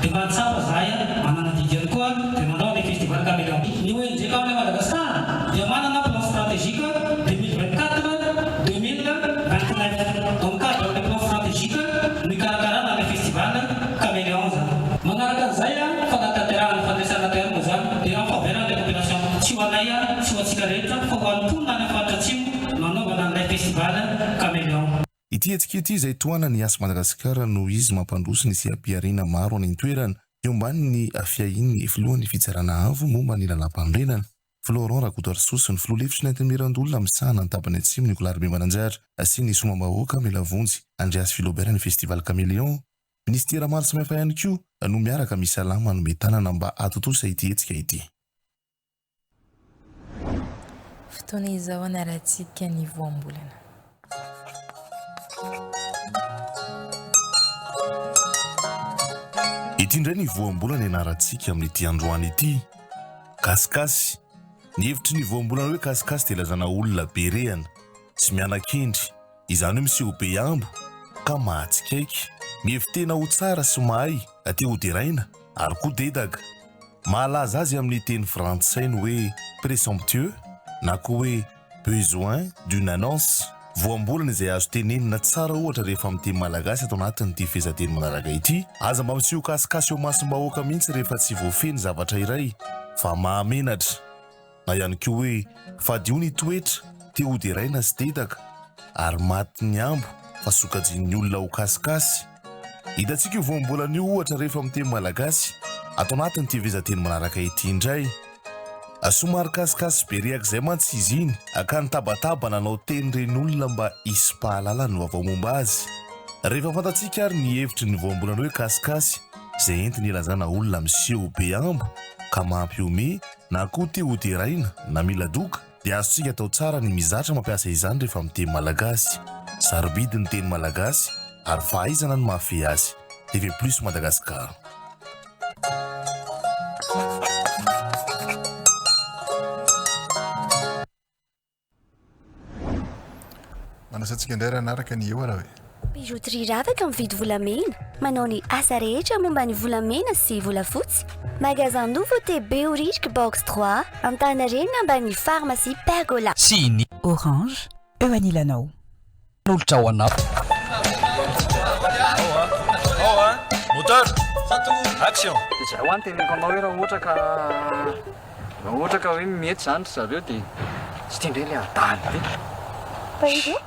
Dia mba tsapa zahay an, manana didy ihany koa dia manao an'ilay festival Camera Beat. Ny ONG Camera Madagascar dia manana plan stratégique deux mille vingt quatre, deux mille vingt neuf. Ao amin'ny cadre an'ilay plan stratégique no ikarakarana an'ilay festival Caméléons an. Manaraka an'izay an, fanatanterahana fandraisana terme izany dia en faveur an'ilay population. Tsy ho anay an, tsy ho antsika rehetra fa ho an'ny mponina any amin'ny faritra Atsimo no hanaovana an'ilay festival Caméléons. Ity hetsika ity izay tohanan'ny Yas Madagascar noho izy mampandroso ny seha-pihariana maro any an-toerana eo ambanin'ny fiahian'ny filohan'ny Fitsarana Avo momba ny Lalàmpanorenana, Florent Rakotoarisoa sy ny filoha lefitry ny Antenimierandoholona misahana ny Tapany Atsimo Nicolas Ribemananjary sy ny Somambahôka Melavonjy Andreas Philobert ny Festival Caméléon. Minisitera maro samihafa ihany koa no miaraka misalama hanome tanana mba hahatontosa ity hetsika ity. Fotoana izao hanarahantsika ny voambolana. Ity indray ny voambolana ianarantsika amin'ity androany ity. Kasikasy. Ny hevitry ny voambolana hoe kasikasy dia ilazana olona be rehana, tsy miana-kendry. izany hoe miseho be hambo ka mahatsikaiky. Mihevi-tena ho tsara sy mahay te hoderaina ary koa dedaga. Mahalaza azy amin'ny teny frantsay ny hoe présomptueux na koa hoe besoin d'une annonce. Voambolana izay azo tenenina tsara ohatra rehefa amin'ny teny malagasy ato anatin'ity fehezanteny manaraka ity. Aza mba miseho kasikasy eo masom-bahoaka mihitsy rehefa tsy voafehy ny zavatra iray fa mahamenatra. na ihany koa hoe fadio ny toetra, te ho deraina sy dedaka, ary maty ny ambo fa sokajian'ny olona ho kasikasy. Hitantsika io voambolana io ohatra rehefa amin'ny teny malagasy ato anatin'ity vizan-teny manaraka ity indray. Somary kasikasy be rehaka izay mantsy izy iny ka nitabataba nanao teny ireny olona mba hisipahalalany vaovao momba azy. Rehefa fantatsika ary ny hevitry ny voambolana hoe kasikasy izay entiny hilazana olona miseho be ambo ka mampihomehy, na koa te ho deraina na mila doka dia azontsika atao tsara ny mizatra mampiasa izany rehefa miteny malagasy. Sarobidy ny teny malagasy ary fahaizana no mahafehy azy. TV Plus Madagascar. Manasa antsika indray raha hanaraka ny eo raha e. Bijouterie ravaka mividy volamena, manao ny asa rehetra momba ny volamena sy volafotsy. Magasin Nouveau TB au Rirk Box 3, Antaninarenina ambanin'ny pharmacie Pergola. Tsy inia. Orange, eo anilanao. Nolotra ao anao. Moteur, action. Dia jereo any teneniko anao hoe raha ohatra ka raha ohatra ka hoe mety izany ry zareo dia tsy tiandreo ilay adala. Tahiry eo?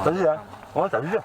Tahiry a? Hono tahiry eo?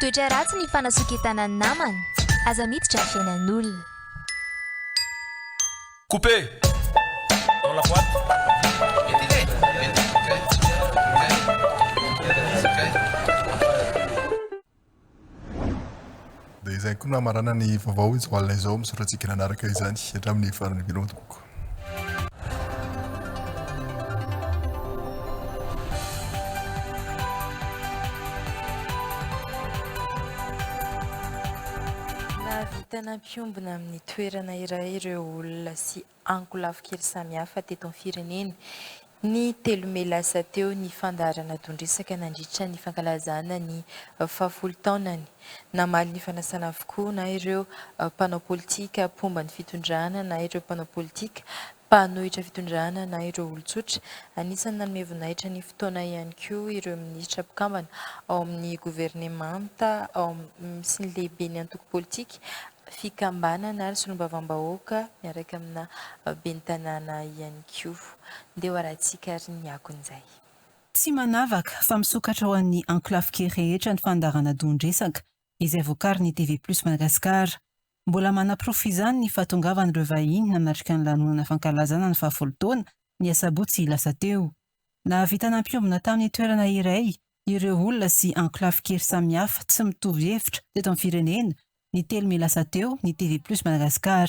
Toetra ratsy ny fanasoketana ny namana, aza miditra ny fiainan'olona. Couper dans la boîte. Dia izay koa no hamaranana ny vaovao izao alina izao, misaotra antsika nanaraka izany hatramin'ny farany veloma tompoko. Nahavita nampiombona amin'ny toerana iray ireo olona sy ankolafy kely samihafa teto amin'ny firenena. Ny telo mey lasa teo ny fandaharana don-dresaka nandritra ny fankalazana ny fahafolo taonany. Namaly ny fanasana avokoa na ireo mpanao politika mpomba ny fitondrana na ireo mpanao politika mpanohitra fitondrana na ireo olon-tsotra. Anisan'ny nanome voninahitra ny fotoana ihany koa ireo minisitra mpikambana ao amin'ny governemanta sy ny lehiben'ny antoko politika, fikambanana ary solombavambahoaka miaraka amina ben'ny tanàna ihany koa. ndeha ho arahintsika ary ny akon'izay. Tsy manavaka fa misokatra ho an'ny enclaves-ke rehetra ny fandaharana dohan-dresaka izay vokarin'ny TV Plus Madagascar. Mbola manaporofo izany ny fahatongavan'ireo vahiny nanatrika ny lanonana fankalazana ny fahafolo taona ny asabotsy lasa teo. Nahavita nampiombona tamin'ny toerana iray ireo olona sy enclaves-kery samihafa tsy mitovy hevitra teto amin'ny firenena ny telo mey lasa teo ny TV Plus Madagascar.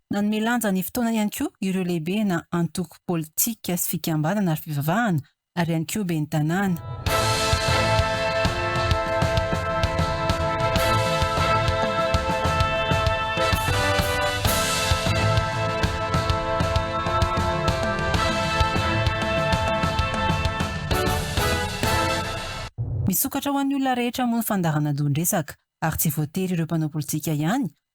Nanome lanja ny fotoana ihany koa ireo lehibe na antoko politika sy fikambanana ary fivavahana ary ihany koa ben'ny tanàna. Misokatra ho an'ny olona rehetra moa ny fandaharana dohan-dresaka ary tsy voatery ireo mpanao politika ihany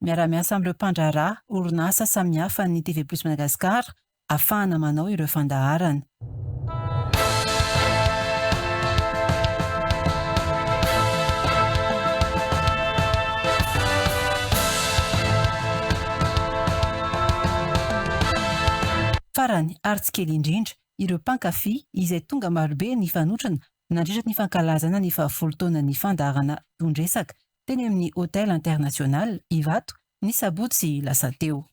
Miara-miasa amin'ireo mpandraharaha orinasa samihafa ny TV Plus Madagascar afahana manao ireo fandaharana. Farany ary tsy kely indrindra, ireo mpankafy izay tonga marobe nifanotrona nandritry ny fankalazana ny fahavolo taonan'ny fandaharana Don Resaka teny amin'ny Hotel International Ivato ny sabotsy lasa teo.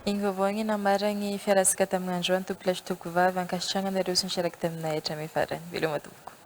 Ny vaovao ny namaran'ny Fiaratsika tamin'ny androany Tompolahy sy Tompovavy ankasitrahana anareo sy ny fiarakidaminay hatramin'ny farany. Veloma tompoko.